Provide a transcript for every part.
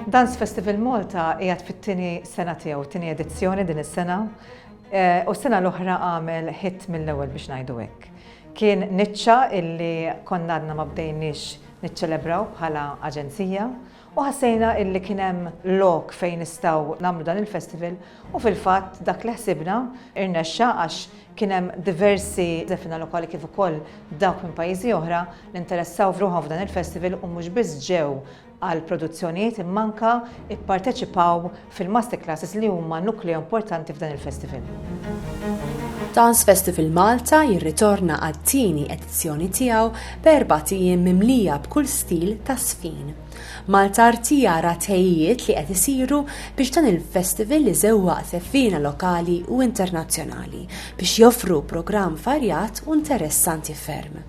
Dance Festival Malta qiegħed fit-tieni sena tiegħu, tieni edizzjoni din is-sena, eh, u s-sena l-oħra għamel hit mill-ewwel biex ngħidu hekk. Kien niċċa illi konna għadna ma bdejniex niċċelebraw bħala aġenzija U ħassejna illi kien hemm lok fejn nistgħu nagħmlu dan il-festival u fil-fatt dak li ħsibna irnexxa għax kien hemm diversi żefina lokali kif ukoll dawk minn pajjiżi oħra li interessaw f'ruħhom f'dan il-festival u mhux biss ġew għall-produzzjonijiet imma anke pparteċipaw fil-master classes li huma nukleu importanti f'dan il-festival. Dance Festival Malta jirritorna għat-tieni edizzjoni tiegħu b'erbat ijiem mimlija b'kull stil ta' żfin. Malta Arti jara tħejjijiet li qed isiru biex dan il-festival iżewwaq żeffiena lokali u internazzjonali biex joffru programm varjat u nteressanti ferm.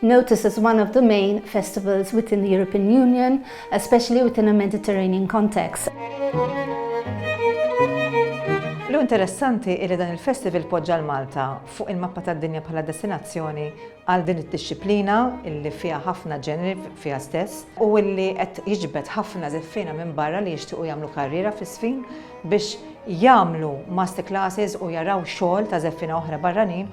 Noticed as one of the main festivals within the European Union, especially within a Mediterranean context. L-hu interessanti li dan il-festival poġġa l-Malta fuq il-mappa tad-dinja bħala destinazzjoni għal din id-dixxiplina illi fiha ħafna ġeneri fiha stess u illi qed jiġbed ħafna żeffiena minn barra li jixtiequ jagħmlu karriera fis-żfin biex jagħmlu master classes u jaraw xogħol ta' żeffiena oħra barranin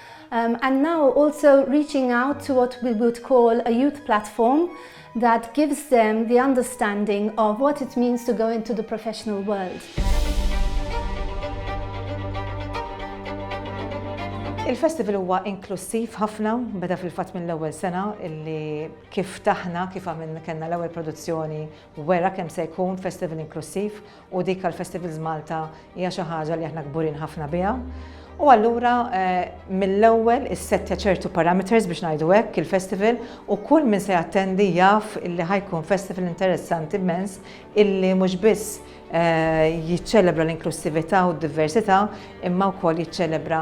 um, and now also reaching out to what we would call a youth platform that gives them the understanding of what it means to go into the professional world. Il-festival huwa inklusiv ħafna, beda fil-fatt mill-ewwel sena illi kif taħna, kif għamilna kellna l-ewwel produzzjoni wera kemm se jkun festival inklusiv u dik għal Festivals Malta hija xi ħaġa li aħna kburin ħafna biha. U allura eh, mill-ewwel issettja ċertu parameters biex ngħidu hekk il-festival u kull min se jattendi jaf illi ħajkun festival interessanti immens illi mhux biss eh, jiċċelebra l-inklusività u d-diversità imma wkoll jiċċelebra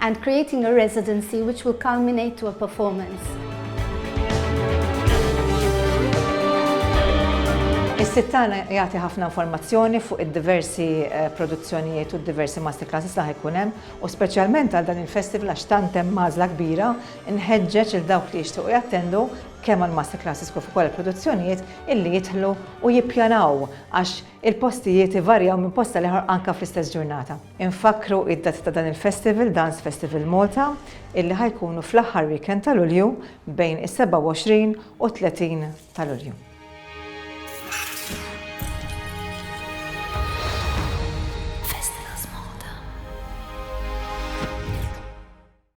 and creating a residency which will culminate to a performance. Is-sit tagħna jagħti ħafna informazzjoni fuq id-diversi produzzjonijiet u d-diversi masterclasses li ħa jkun hemm, u speċjalment għal dan il-festival għax tant hemm għażla kbira, inħeġġeġ lil dawk li jixtiequ jattendu kemm għall-masterclasses kif ukoll il-produzzjonijiet illi jidħlu u jippjanaw għax il-postijiet ivarjaw minn post għal ieħor anke fl-istess ġurnata. Infakkru id-dati ta' dan il-festival, Dance Festival Malta, illi ħa jkunu fl-aħħar weekend ta' Lulju bejn is-27 u 30 ta' Lulju.